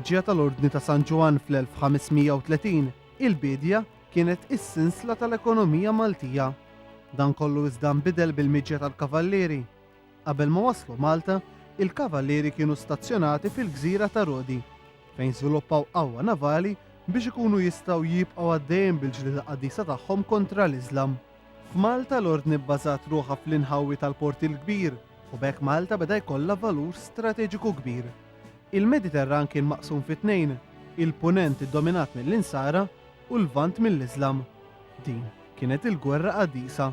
il-miġja tal-Ordni ta' San Ġwann fl-1530, il-bidja kienet is-sinsla tal-ekonomija Maltija. Dan kollu iżda nbidel bil-miġja tal-Kavallieri. Qabel ma waslu Malta, il-Kavallieri kienu stazzjonati fil-gżira ta' Rodi, fejn żviluppaw qawwa navali biex ikunu jistgħu jibqgħu għaddejjin bil-ġlieda qaddisa tagħhom kontra l-Iżlam. F'Malta l-Ordni bbażat ruħha fl-inħawi tal-Port il-Kbir u b'hekk Malta beda jkollha valur strateġiku kbir. Il-Mediterran kien maqsum fi tnejn, il-Punent iddominat mill-Insara u l-Lvant mill-Iżlam. Din kienet il-gwerra qaddisa.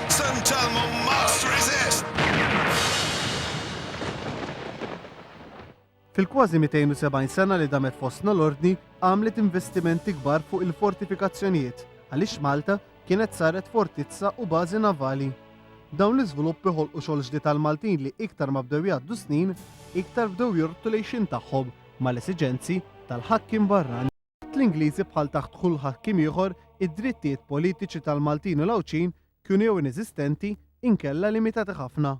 San Telmo must resist! Fil-kważi 270 sena li damet fostna l-Ordni għamlet investimenti kbar fuq il-fortifikazzjonijiet għaliex Malta kienet saret fortizza u bażi navali. Dawn l-iżviluppi ħolqu xogħol ġdid għall-Maltin li iktar ma bdew jgħaddu s-snin iktar bdew jorqdu l-għixien tagħhom mal-esiġenzi tal-ħakkiem barrani. Taħt l-Ingliżi bħal taħt kull ħakkiem ieħor, id-drittijiet politiċi tal-Maltin u l-Għawdxin kienu jew ineżistenti inkella limitati ħafna.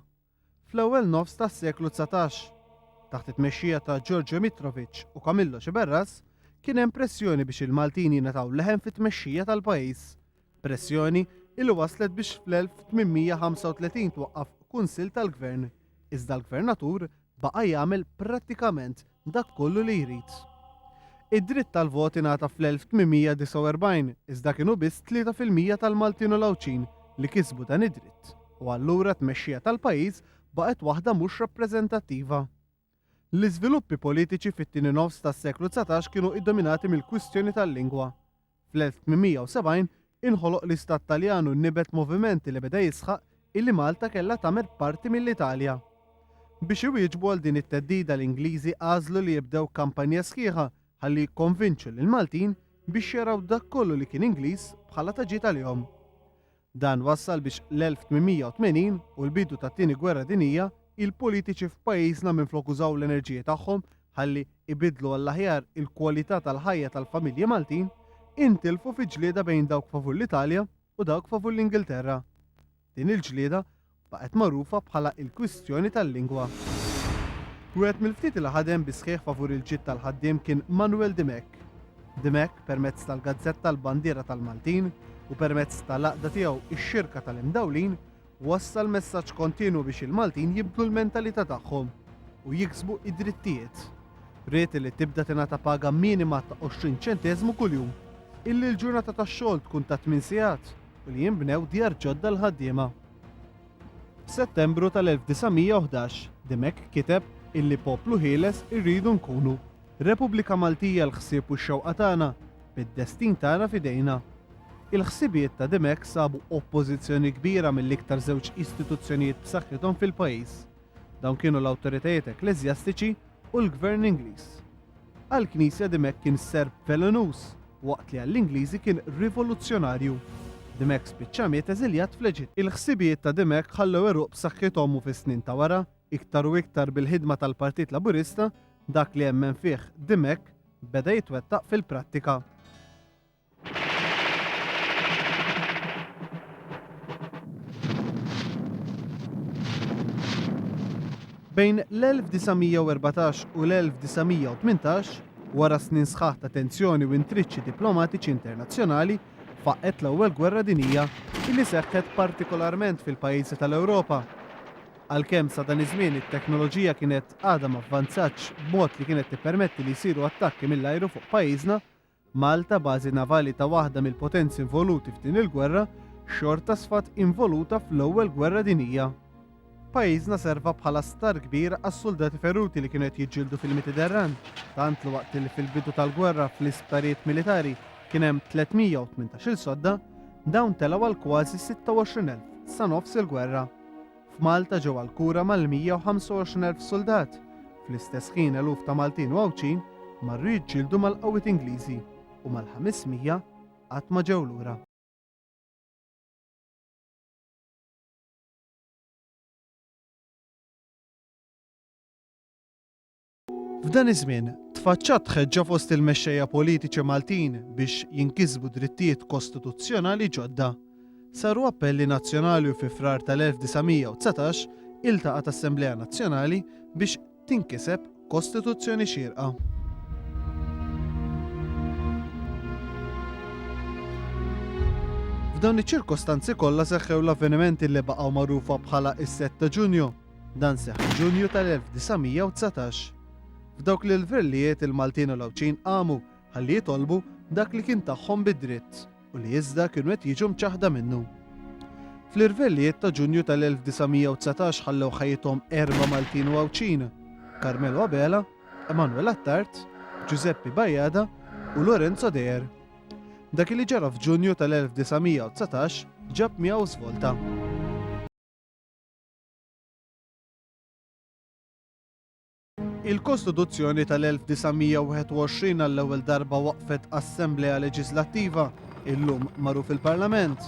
Fl-ewwel nofs tas-seklu dsatax, taħt it-tmexxija ta' Giorgio Mitrovic u Camillo Sciberras, kien hemm pressjoni biex il-Maltin jingħataw leħen fit-tmexxija tal-pajjiż. Pressjoni li wasslet biex fl-1835 twaqqaf Kunsill tal-Gvern, iżda l-Gvernatur baqa' jagħmel prattikament dak kollu li jrid. Id-dritt tal-vot ingħata fl-1849 iżda kienu biss tlieta fil-mija tal-Maltin u l-Għawdxin li kisbu dan id-dritt u allura t-tmexxija tal-pajjiż baqgħet waħda mhux rappreżentattiva. L-iżviluppi politiċi fit-tieni nofs tas-seklu dsatax kienu iddominati mill-kwistjoni tal-lingwa. Fl-1870 inħoloq l-Istat Taljan u nibet moviment li beda jisħaq illi Malta kellha tagħmel parti mill-Italja. Biex iwieġbu għal din it-theddida l-Ingliżi għażlu li jibdew kampanja sħiħa ħalli jikkonvinċu lill-Maltin biex jaraw dak kollu li kien Ingliż bħala ta' ġid għalihom. Dan wassal biex l-1880 u l-bidu tat-Tieni Gwerra Dinjija, il-politiċi f'pajjiżna minflok użaw l-enerġiji tagħhom ħalli ibiddlu għall-aħjar il-kwalità tal-ħajja tal-familji Maltin, intilfu fi ġlieda bejn dawk favur l-Italja u dawk favur l-Ingilterra. Din il-ġlieda baqgħet magħrufa bħala il-kwistjoni tal-lingwa. Wieħed mill-ftit li ħadem bis-sħiħ favur il-ġid tal-ħaddiem kien Manuel Dimech. Dimech, permezz tal-gazzetta l-Bandiera tal-Maltin u permezz tal-għaqda tiegħu x-Xirka tal-Imdawlin, wassal messaġġ kontinwu biex il-Maltin jibdlu l-mentalità tagħhom u jiksbu id-drittijiet. Ried li tibda tingħata paga minima ta' 20 ċenteżmu kuljum, illi l-ġurnata tax-xogħol tkun ta' tmien sigħat u li jinbnew djar ġodda l-ħaddiema. F'Settembru tal-1911, Dimech kiteb illi poplu ħieles irridu nkunu. Repubblika Maltija l-ħsieb u x-xewqa tagħna, bid-destin tagħna f'idejna. Il-ħsibijiet ta' Dimech sabu oppożizzjoni kbira mill-iktar żewġ istituzzjonijiet b'saħħithom fil-pajjiż. Dawn kienu l-awtoritajiet ekkleżjastiċi u l-gvern Ingliż. Għall-Knisja Dimech kien serp velenuż, waqt li għall-Ingliżi kien rivoluzzjonarju. Dimech spiċċa miet eżiljat fl-Eġitt. Il-ħsibijiet ta' Dimech ħallew għeruq b'saħħithom u fis-snin ta' wara, iktar u iktar bil-ħidma tal-Partit Laburista, dak li emmen fih Dimech beda jitwettaq fil-prattika. Bejn l-1914 u l-1918, wara snin sħaħ ta' tensjoni u intriċċi diplomatiċi internazzjonali, faqqgħet l-Ewwel Gwerra Dinjija li seħħet partikolarment fil-pajjiżi tal-Ewropa. Għalkemm sa dan iż-żmien it-teknoloġija kienet għadha ma vvanzatx b'mod li kienet tippermetti li jsiru attakki mill-ajru fuq pajjiżna, Malta, bażi navali ta' waħda mill-potenzi involuti f'din il-gwerra, xorta sfat involuta fl-Ewwel Gwerra Dinjija. Pajjiżna serva bħala star kbir għas-suldati feruti li kienu qed jiġġieldu fil-Mititerran, tant li waqt li fil-bidu tal-gwerra fl-isptarijiet militari kien hemm 318-il sodda, dawn telgħu għal kważi 26,000 sa nofs il-gwerra. F'Malta ġew għall-kura mal-125,000 suldat. Fl-istess ħin eluf ta' Maltin u Għawdxin marru jiġġieldu mal-qawwiet Ingliżi u mal-500 qatt ma ġew lura. F'dan iż-żmien, tfaċċat tħeġġa fost il-mexxejja politiċi Maltin biex jinkisbu drittijiet kostituzzjonali ġodda. Saru appelli nazzjonali u fi Frar tal-1919 iltaqgħet Assemblea Nazzjonali biex tinkiseb Kostituzzjoni xierqa. F'dawn iċ-ċirkostanzi kollha seħħew l-avvenimenti li baqgħu magħrufa bħala is-7 ta' Ġunju. Dan seħħ f'Ġunju tal-1919. F'dawk l-ilvrillijiet il-Maltin u l-Għawdxin qamu ħalli jitolbu dak li kien tagħhom bi dritt u li iżda kienu qed jiġu mċaħħda minnu. Fl-irvellijiet ta' Ġunju tal-1919 ħallew ħajjithom erba' Maltin u Għawdxin, Carmelo Abela, Emanuel Attard, Ġużeppi Bajada u Lorenzo Deher. Dak li ġara f'Ġunju tal-1919 ġab miegħu żvolta. Il-Kostituzzjoni tal-1921 għall-ewwel darba waqfet Assemblea Leġislattiva, illum magħruf il-Parlament.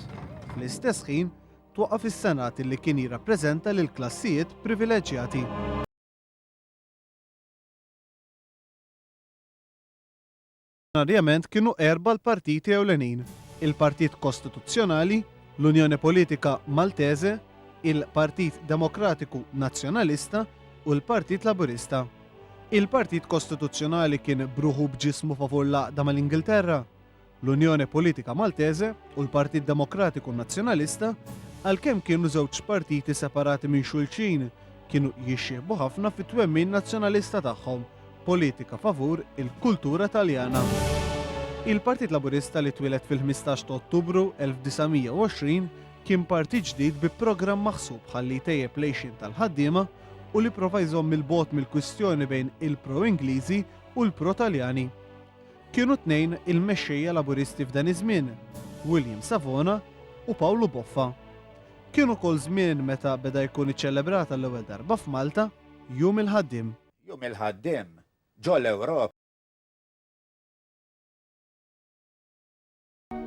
Fl-istess ħin, twaqqaf is-Senat li kien jirrappreżenta lil klassijiet privileġġjati. oriġinarjament kienu erba' l-partiti ewlenin, il-Partit Kostituzzjonali, l-Unjoni Politika Maltese, il-Partit Demokratiku Nazzjonalista u l-Partit Laburista. Il-Partit Kostituzzjonali kien b'ruħu b'ġismu favur l-għaqda mal-Ingilterra, l-Unjoni Politika Maltese u l-Partit Demokratiku Nazzjonalista, għalkemm kienu żewġ partiti separati minn xulxin, kienu jixxiehbu ħafna fit-twemmin nazzjonalista tagħhom. Politika favur il-kultura Taljana. Il-Partit Laburista li twieled fil-15 ta' Ottubru 1920 kien partit ġdid bi programm maħsub ħalli jtejjeb lejxin tal-ħaddiema u li prova jżomm il-bot mill-kwistjoni bejn il-pro-Ingliżi u l-pro-Taljani. Kienu tnejn il-mexxejja laburisti f'dan iż-żmien, William Savona u Pawlu Boffa. Kienu kol żmien meta beda jkun iċċelebrata l-ewwel darba f'Malta jum il-ħaddim. Jum il-Ħaddiem ġol-Ewropa.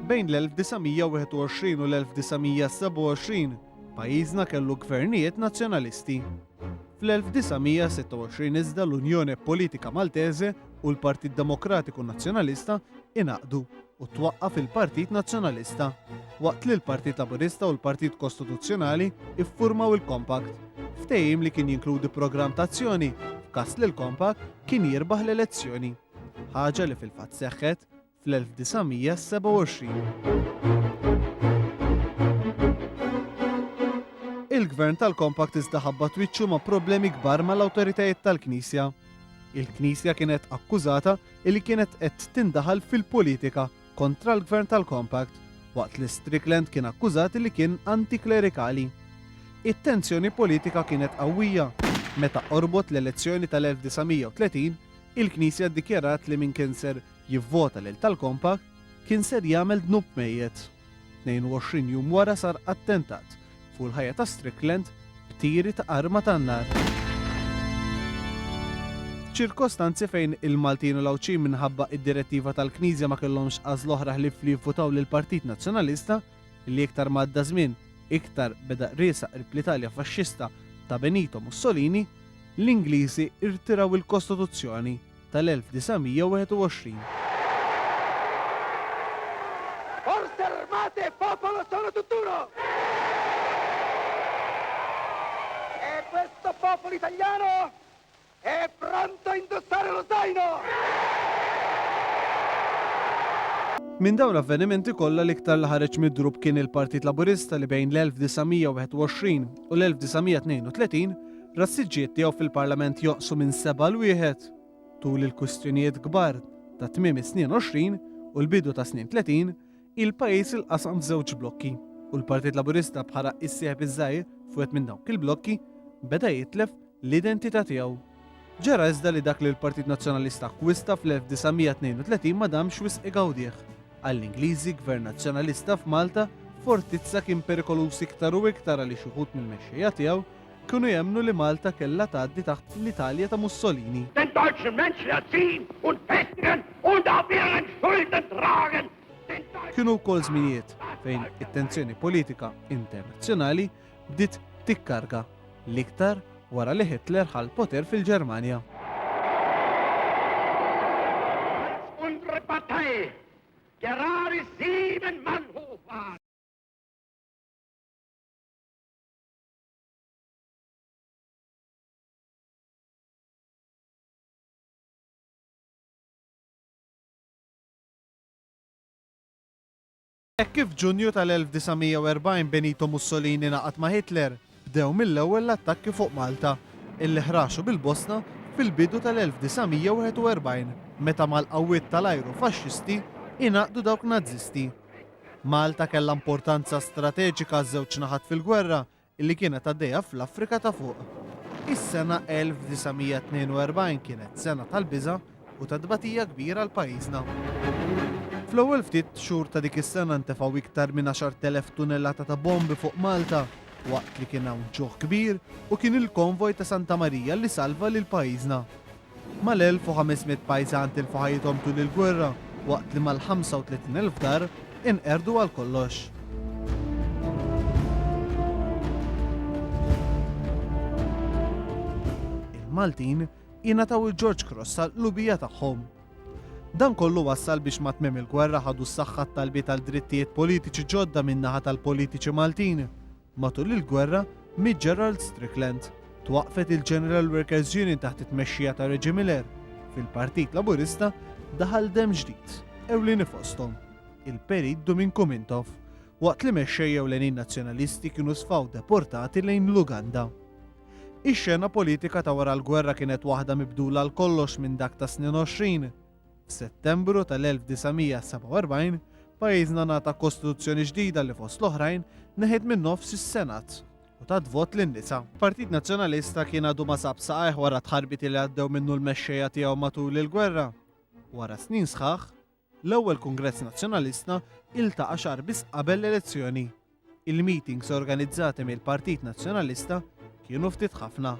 Bejn l-1921 u l-1927, pajjiżna kellu gvernijiet Nazzjonalisti. Fl-1926 iżda l-Unjone Politika Maltese u l-Partit Demokratiku Nazzjonalista ingħaqdu. u twaqqaf il-Partit Nazzjonalista, waqt li l-Partit Laburista u l-Partit Kostituzzjonali iffurmaw il-Compact, ftehim li kien jinkludi programm ta' azzjoni f'każ li l-Compact kien jirbaħ l-elezzjoni, ħaġa li fil-fatt seħħet fl-1927. Il-Gvern tal-Compact iżda ħabbat wiċċu ma' problemi kbar mal-awtoritajiet tal-Knisja. Il-Knisja kienet akkużata li kienet qed tindaħal fil-politika kontra l-Gvern tal-Compact, waqt li Strickland kien akkużat li kien anti-klerikali. It-tensjoni politika kienet qawwija. Meta qorbot l-elezzjoni tal-1930, il-Knisja ddikjarat li min kien ser jivvota lil tal-Compact kien ser jagħmel dnub mejjet. 22 jum wara sar attentat fuq il-ħajja ta' Strickland b'tiri ta' arma tan-nar. F'ċirkostanzi fejn il-Maltin u l-Għawdxin minħabba id-direttiva tal-Knisja ma kellhomx għażla oħra ħlief li jivvutaw lill-Partit Nazzjonalista, li iktar ma għadda żmien iktar beda qriesa qrib l-Italja faxxista ta' Benito Mussolini, l-Ingliżi rtiraw il-Kostituzzjoni tal-1921. Forze Armate e Popolo sono tutt'uno! E questo popolo italiano è pronto a indossare lo zaino! Minn dawn l-avvenimenti kollha l-iktar li ħareġ midrub kien il-Partit Laburista li bejn l-1921 u l-1932 Ras-siġġiet tiegħu fil-Parlament jonqsu minn seba' għal wieħed. Tul il-kwistjonijiet kbar ta' tmiem is-snin 20 u l-bidu tas-snin 30, il-pajjiż ilqasam f'żewġ blokki u l-Partit Laburista bħala s-sieħeb iż-żgħir f'wieħed minn dawk il-blokki, beda jitlef l-identità tiegħu. Ġara iżda li dak li l-Partit Nazzjonalista akkwista fl-1932 ma damx wisq igawdih. Għall-Ingliżi, Gvern Nazzjonalista f'Malta, Fortizza kien perikoluż iktar u iktar għaliex uħud mill-mexxejja tiegħu Kienu jemmnu li Malta kellha tgħaddi taħt l-Italja ta' Mussolini. Den deutschen Mensch wird sehen und festigen und auf ihren Schultern tragen den deutschen Kienu wkoll żminijiet fejn it-tensjoni politika internazzjonali bdiet tikkarga l-iktar wara li Hitler ħa l-poter fil-Ġermanja. Unsere Partei, gerade sieben Mann hoch war. Hekk kif f'Ġunju tal-1940 Benito Mussolini ngħaqad ma' Hitler, bdew mill-ewwel l-attakki fuq Malta, illi ħraxu bil-bosna fil-bidu tal-1941 meta mal-qawwiet tal-ajru Faxxisti ingħaqdu dawk Nażisti. Malta kellha importanza strateġika għaż-żewġ naħat fil-gwerra li kienet għaddejja fl-Afrika ta' Fuq. Is-sena 1942 kienet sena tal-biża' u ta' tbatija kbira għal pajjiżna. Fl-ewwel ftit xhur ta' dik is-sena ntefgħu iktar minn 10,000 tunellata ta' bombi fuq Malta waqt li kien hawn ġuħ kbir u kien il-konvoj ta' Santa Marija li salva lil pajjiżna. Mal-1,500 pajżan tilfu ħajjithom tul il-gwerra waqt li mal-35,000 dar inqerdu għal kollox. Il-Maltin ingħataw il-George Cross tal-qlubija tagħhom. Dan kollu wassal biex ma tmiem il-gwerra ħadu s-saħħa t-talbiet għal drittijiet politiċi ġodda min-naħa tal-politiċi Maltin Matul il-gwerra, miet Gerald Strickland. Twaqqfet il-General Workers Union taħt it-tmexxija ta' Reggie Miller. Fil-Partit Laburista daħal demm ġdid, ewlieni fosthom, il-Perit Dumin Kumintof, waqt li mexxejja ewlenin Nazzjonalisti kienu sfaw deportati lejn l-Uganda. Ix-xena politika ta' wara l-gwerra kienet waħda mibdula għal kollox minn dak tas-snin għoxrin. F'Settembru tal-1947, pajjiżna ngħata Kostituzzjoni ġdida li fost l-oħrajn neħiet min-nofs is-Senat u tat vot lin-nisa. Partit Nazzjonalista kien għadu ma sab saqajh wara t-tħarbiti li għaddew minnu l-mexxejja tiegħu matul il-gwerra. Wara snin sħaħ, l-ewwel Kungress Nazzjonalista iltaqa' xahar biss qabel l-elezzjoni. Il-meetings organizzati mill-Partit Nazzjonalista kienu ftit ħafna.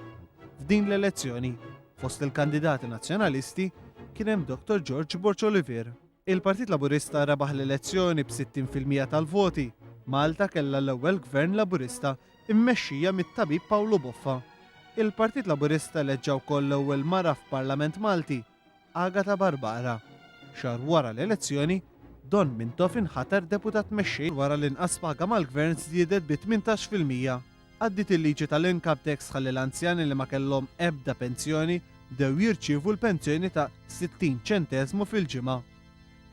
F'din l-elezzjoni, fost il-kandidati Nazzjonalisti kien hemm Dottor George Borg Olivier. Il-Partit Laburista rebaħ l-elezzjoni b'60 fil-mija tal-voti. Malta kellha l-ewwel Gvern Laburista mmexxija mit-Tabib Pawlu Boffa. Il-Partit Laburista eleġġa wkoll l-ewwel mara f'Parlament Malti. Agata Barbara. Xahar wara l-elezzjoni, Don Mintoff inħatar Deputat Mexxej wara li nqas paga mal-Gvern żdiedet bi 18 fil-mija. Għaddiet il-liġi tal-Income Tax ħalli l-anzjani li ma kellhom ebda pensjoni bdew jirċievu l-pensjoni ta' 60 ċenteżmu fil-ġimgħa.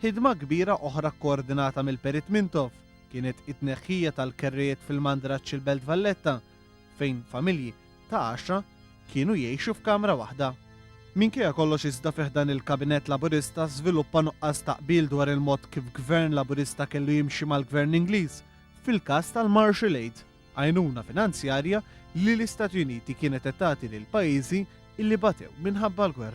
Ħidma kbira oħra kkoordinata mill-Perit Mintoff kienet it-tneħħija tal-kerrijiet fil-Mandraċċ il-Belt Valletta fejn familji ta' għaxra kienu jgħixu f'kamra waħda. Minkejja kollox iżda fi ħdan il-Kabinett Laburista żviluppa nuqqas ta' qbil dwar il-mod kif Gvern Laburista kellu jimxi mal-Gvern Ingliż fil-każ tal-Marshall Aid, għajnuna finanzjarja li l-Istati Uniti kienet qed tagħti lil pajjiżi li batew minħabba l-gwerra.